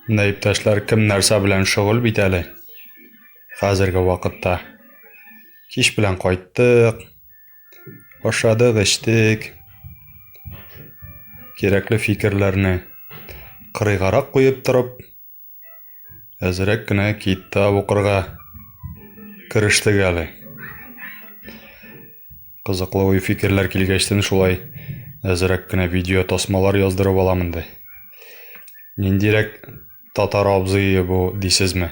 Менә иптәшләр кем нәрсә белән шөгыль бит әле хәзерге вакытта. Кич белән кайттык, ашадык, эчтек. Кирәкле фикерләрне кырыйгарак куеп торып, әзрәк кенә китап укырга керештек әле. Кызыклы уй фикерләр килгәчтен шулай әзрәк кенә видео тасмалар яздырып алам инде. Ниндирәк татар абзые бу дисезме?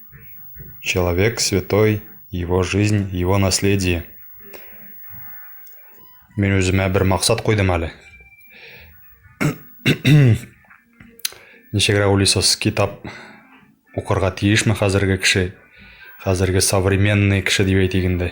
человек святой его жизнь его наследие мин үземә бер максат куйдым әле ничегрәк уйлыйсыз китап укырга тиешме хәзерге кеше хәзерге современный кеше дип әйтик инде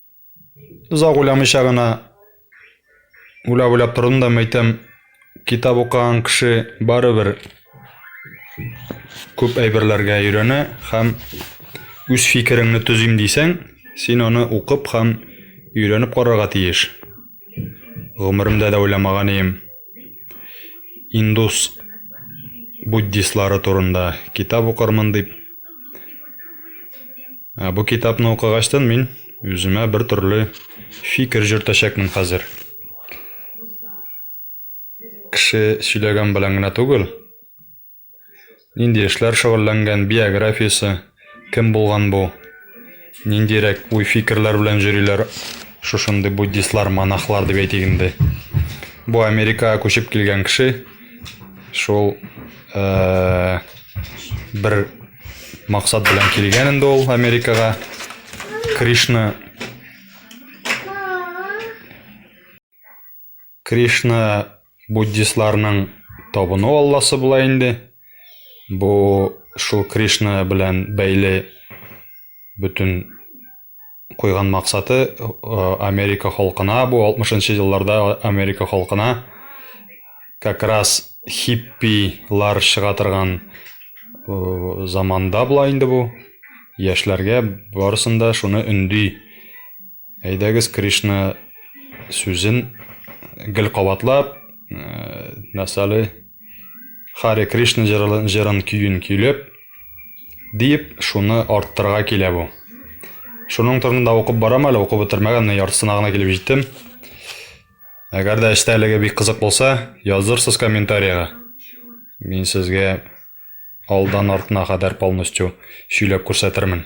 Озак уйламыйча гына уйлап-уйлап тордым да мәйтәм, китап укыган кеше барыбер күп әйберләргә өйрәнә һәм үз фикереңне төзим дисәң, син аны укып һәм өйрәнеп карарга тиеш. Гомеремдә дә уйламаган идем. Индус буддистлары турында китап укырмын дип. Ә бу китапны укыгачтын мин үземә бер төрле фикер җөртәчәкмен хәзер. Кеше сөйләгән белән генә түгел, нинди эшләр шөгыльләнгән, биографиясе, кем булган бу, ниндирәк уй-фикерләр белән җөриләр шушындый буддистлар, монахлар дип әйтик инде. Бу Америкага күчеп килгән кеше. шул ә, бер максат белән килгән инде ул Америкага. Кришна Кришна буддистларның табыну алласы була инде. Бу шул Кришна белән бәйле бөтен куйган максаты Америка халкына, бу 60-нчы елларда Америка халкына как раз хиппилар чыга торган заманда була инде бу. Яшьләргә барысында шуны өнди. Әйдәгез Кришна сүзен гел кабатлап, мәсәле, Харе Кришна җырын көен көйләп, диеп, шуны арттырырга килә бу. Шуның турында да укып барам әле, укып бетермәгән, менә яртысына гына килеп җиттем. Әгәр дә эчтәлеге бик кызык булса, язырсыз комментариягә. Мин сезгә алдан артына кадәр полностью сөйләп күрсәтермен.